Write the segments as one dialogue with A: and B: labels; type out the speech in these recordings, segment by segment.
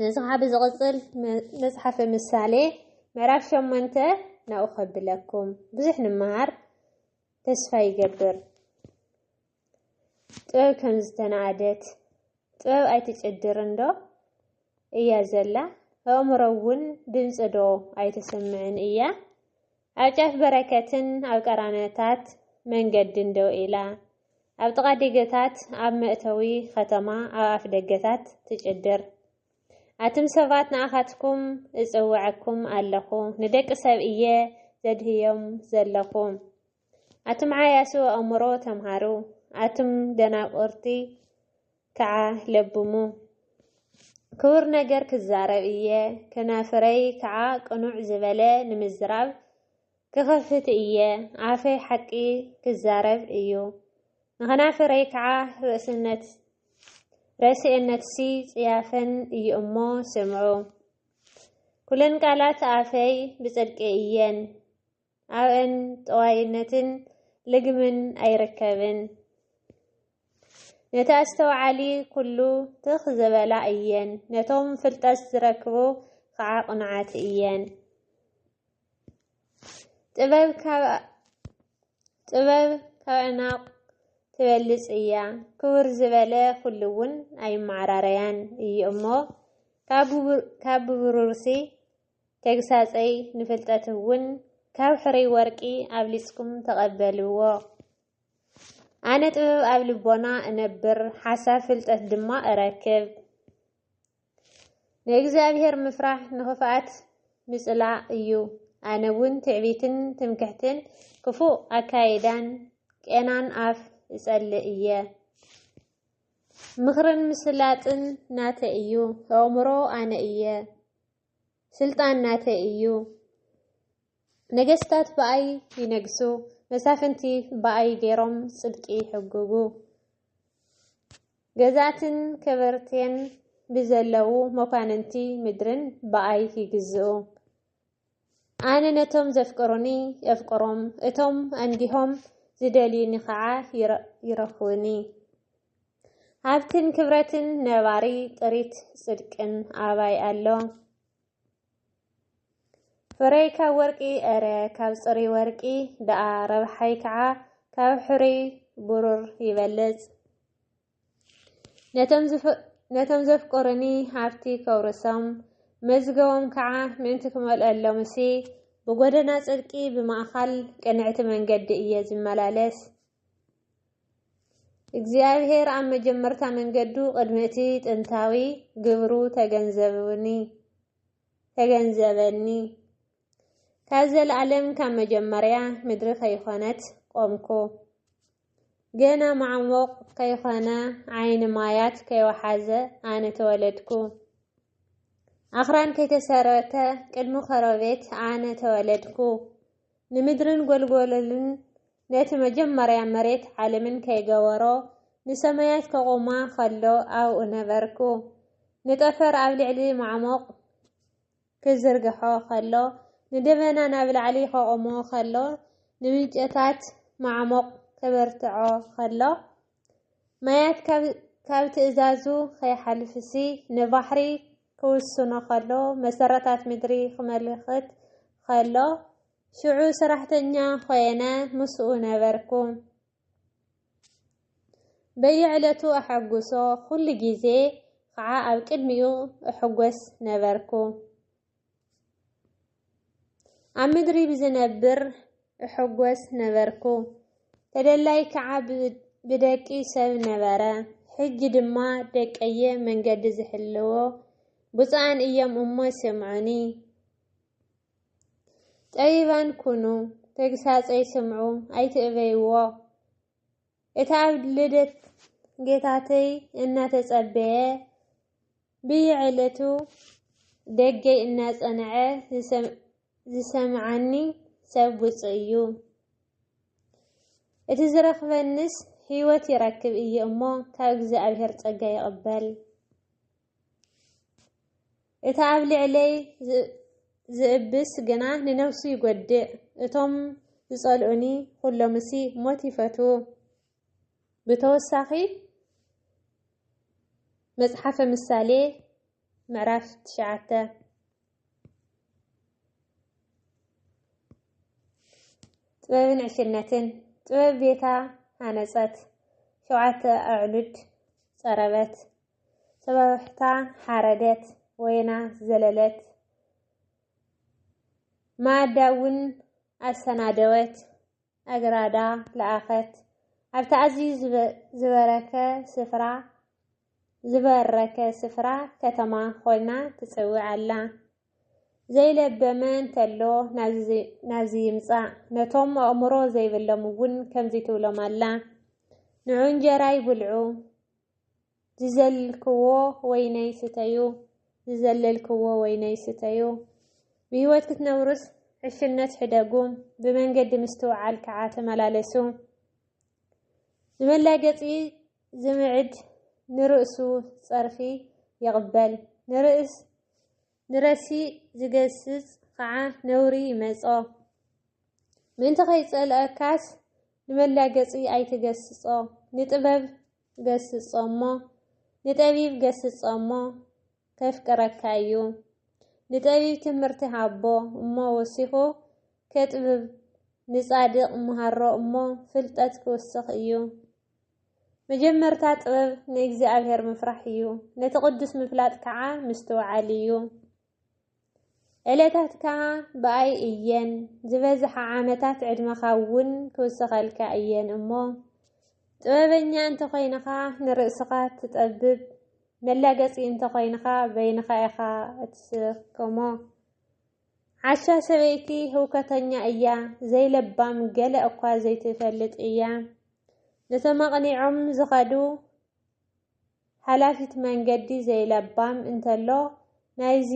A: ነዚ ኸዓ ብዝቕጽል መጽሓፈ ምሳሌ ምዕራፍ ሸሞንተ ናብኡ ከብለኩም ብዙሕ ንመሃር ተስፋ ይገብር። ጥበብ ከም ዝተናኣደት ጥበብ ኣይትጭድርን ዶ እያ ዘላ ኣእምሮ እውን ድምፂ ዶ ኣይተሰምዕን እያ ኣብ ጫፍ በረከትን ኣብ ቀራንዮታት መንገድን ደው ኢላ፣ ኣብ ጥቓ ዲገታት ኣብ መእተዊ ኸተማ ኣብ ኣፍደገታት ትጭድር። ኣቱም ሰባት ንኣኻትኩም እጽውዐኩም ኣለኹ፣ ንደቂ ሰብ እየ ዘድህዮም ዘለኹ። ኣቱም ዓያሱ ኣእምሮ ተምሃሩ፣ ኣቱም ደናቁርቲ ከዓ ለብሙ። ክቡር ነገር ክዛረብ እየ፣ ከናፍረይ ከዓ ቅኑዕ ዝበለ ንምዝራብ ክኸፍት እየ፣ ኣፈይ ሓቂ ክዛረብ እዩ፣ ንኸናፍረይ ከዓ ርእስነት ረስኤነትሲ ጽያፈን እዩ እሞ ስምዑ። ኩለን ቃላት ኣፈይ ብጽድቂ እየን። ኣብእን ጠዋይነትን ልግምን ኣይርከብን። ነቲ ኣስተውዓሊ ኩሉ ትኽ ዝበላ እየን፣ ነቶም ፍልጠት ዝረክቡ ኸዓ ቅኑዓት እየን። ጥበብ ካብ ዕናቕ ትበልጽ እያ፣ ክብር ዝበለ ኩሉ እውን ኣይመዓራረያን እዩ እሞ ካብ ብብሩርሲ ተግሳጸይ ንፍልጠት እውን ካብ ሕሩይ ወርቂ ኣብሊጽኩም ተቐበልዎ። ኣነ ጥበብ ኣብ ልቦና እነብር፣ ሓሳብ ፍልጠት ድማ እረክብ። ንእግዚኣብሔር ምፍራሕ ንኽፍኣት ምጽላእ እዩ። ኣነ እውን ትዕቢትን ትምክሕትን ክፉእ ኣካይዳን ቄናን ኣፍ እጸልእ እየ። ምኽርን ምስላጥን ናተይ እዩ፣ ኣእምሮ ኣነ እየ። ስልጣን ናተይ እዩ። ነገስታት ብኣይ ይነግሱ፣ መሳፍንቲ ብኣይ ገይሮም ጽድቂ ይሕግጉ። ገዛእትን ከበርቴን ብዘለዉ መኳንንቲ ምድርን ብኣይ ይግዝኡ። ኣነ ነቶም ዘፍቅሩኒ የፍቅሮም፣ እቶም ኣንጊሆም ዝደልዩኒ ኸዓ ይረኽቡኒ። ሃብትን ክብረትን ነባሪ ጥሪት ጽድቅን ኣባይ ኣሎ ፍረይ ካብ ወርቂ እረ ካብ ጽሪ ወርቂ ደኣ ረብሓይ ከዓ ካብ ሕሩይ ብሩር ይበልጽ ነቶም ነቶም ዘፍቅሩኒ ሃብቲ ከውርሶም መዝገቦም ከዓ ምእንቲ ክመልአሎም እሲ ብጎደና ጽድቂ ብማእኻል ቅንዕቲ መንገዲ እየ ዝመላለስ እግዚኣብሔር ኣብ መጀመርታ መንገዱ ቅድሚ እቲ ጥንታዊ ግብሩ ተገንዘብኒ ተገንዘበኒ ካብ ዘለዓለም ካብ መጀመርያ ምድሪ ከይኾነት ቆምኩ ገና ማዕሙቕ ከይኾነ ዓይኒ ማያት ከይወሓዘ ኣነ ተወለድኩ ኣኽራን ከይተሰረተ ቅድሚ ኸረቤት ኣነ ተወለድኩ ንምድርን ጎልጎለልን ነቲ መጀመርያ መሬት ዓለምን ከይገበሮ ንሰማያት ከቑማ ከሎ ኣብኡ ነበርኩ። ንጠፈር ኣብ ልዕሊ ማዕሙቕ ክዝርግሖ ከሎ፣ ንደበና ናብ ላዕሊ ከቑሞ ከሎ፣ ንምንጨታት ማዕሙቕ ከበርትዖ ከሎ፣ ማያት ካብ ካብ ትእዛዙ ከይሓልፍሲ ንባሕሪ ክውስኖ ከሎ፣ መሰረታት ምድሪ ክመልክት ከሎ፣ ሽዑ ሰራሕተኛ ኾየነ ምስኡ ነበርኩ። በየዕለቱ ኣሐጉሶ፣ ኩሉ ግዜ ኸዓ ኣብ ቅድሚኡ እሕጎስ ነበርኩ። ኣብ ምድሪ ብዝነብር እሕጎስ ነበርኩ። ተደላይ ከዓ ብደቂ ሰብ ነበረ። ሕጂ ድማ ደቀየ መንገዲ ዝሕልዎ ብፁዓን እዮም እሞ ስምዑኒ። ጠቢባን ኩኑ፣ ተግሳጸይ ስምዑ ኣይትእበይዎ። እቲ ኣብ ልደት ጌታተይ እናተጸበየ ብየዕለቱ ደገይ እናጸንዐ ዝሰምዓኒ ሰብ ብፁዕ እዩ። እቲ ዝረኽበንስ ሕይወት ይረክብ እየ እሞ ካብ እግዚኣብሔር ጸጋ ይቕበል። እቲ ኣብ ልዕለይ ዚእብስ ግና ንነፍሱ ይጐድእ፣ እቶም ዚጸልኡኒ ዅሎምሲ ሞት ይፈትዉ። ብተወሳኺ፣ መጽሓፈ ምሳሌ ምዕራፍ ትሽዓተ። ጥበብን ዕሽነትን ጥበብ ቤታ ሃነጸት፣ ሸውዓተ ኣዕኑድ ጸረበት። ጽባሕታ ሓረደት፣ ወይና ዘለለት፣ መኣዳ እውን ኣሰናደወት፣ ኣግራዳ ለኣኸት። ኣብቲ ኣዝዩ ዝበረከ ስፍራ ዝበረከ ስፍራ ከተማ ኮይና ትጽውዕ ኣላ። ዘይለበመ እንተሎ ናብዚ ይምጻእ፣ ነቶም ኣእምሮ ዘይብሎም እውን ከምዚ ትብሎም ኣላ፣ ንዑ እንጀራ ይብልዑ። ዝዘልክዎ ወይነይ ስተዩ ዝዘለልክዎ ወይነይ ስተዩ ብህይወት ክትነብሩስ ዕሽነት ሕደጉ ብመንገዲ ምስትውዓል ከዓ ተመላለሱ ንመላገፂ ዝምዕድ ንርእሱ ፀርፊ ይቕበል ንርእስ ንረሲእ ዝገስጽ ኸኣ ነውሪ ይመጾ። ምእንቲ ኸይጸልኣካስ ንመላገጺ ኣይትገስጾ። ንጥበብ ገስጾ እሞ፣ ንጠቢብ ገስጾ እሞ፣ ኬፍቅረካ እዩ። ንጠቢብ ትምህርቲ ሃቦ እሞ ወሲኹ ኬጥብብ፣ ንጻድቕ ምሃሮ እሞ ፍልጠት ኪውስኽ እዩ። መጀመርታ ጥበብ ንእግዚኣብሔር ምፍራሕ እዩ፣ ነቲ ቅዱስ ምፍላጥ ከዓ ምስትውዓል እዩ። ዕለታትካ ብኣይ እየን፣ ዝበዝሓ ዓመታት ዕድመኻ እውን ክውሰኸልካ እየን እሞ ጥበበኛ እንተኾይንኻ ንርእስኻ ትጠብብ፣ መላገፂ እንተኾይንኻ በይንኻ ኢኻ እትስከሞ። ዓሻ ሰበይቲ ህውከተኛ እያ ዘይለባም ገለ እኳ ዘይትፈልጥ እያ ነቶም ኣቕኒዖም ዝኸዱ ሓላፊት መንገዲ ዘይለባም እንተሎ ናይዚ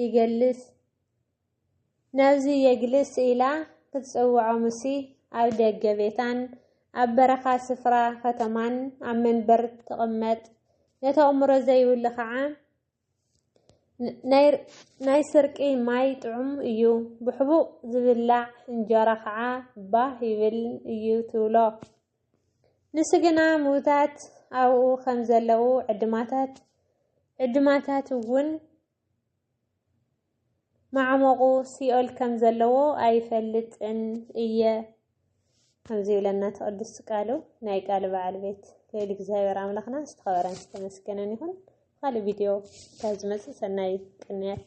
A: ይገልስ ናብዚ የግልስ ኢላ ክትጽውዖምሲ ኣብ ደገ ቤታን ኣብ በረኻ ስፍራ ከተማን ኣብ መንበር ትቕመጥ ነቲ ኣእምሮ ዘይብሉ ከዓ ናይ ስርቂ ማይ ጥዑም እዩ፣ ብሕቡእ ዝብላዕ እንጀራ ከዓ ባህ ይብል እዩ ትብሎ። ንሱ ግና ምዉታት ኣብኡ ከም ዘለዉ ዕድማታት ዕድማታት እውን ማዕሙቑ ሲኦል ከም ዘለዎ ኣይፈልጥን እየ ከምዚ ይብለና እቲ ቅዱስ ቃሉ ናይ ቃል በዓል ቤት ልዕሊ እግዚኣብሔር ኣምላኽና ዝተኸበረን ዝተመስገነን ይኹን። ካልእ ቪድዮ ካብ ዝመፅእ ሰናይ ቅንያት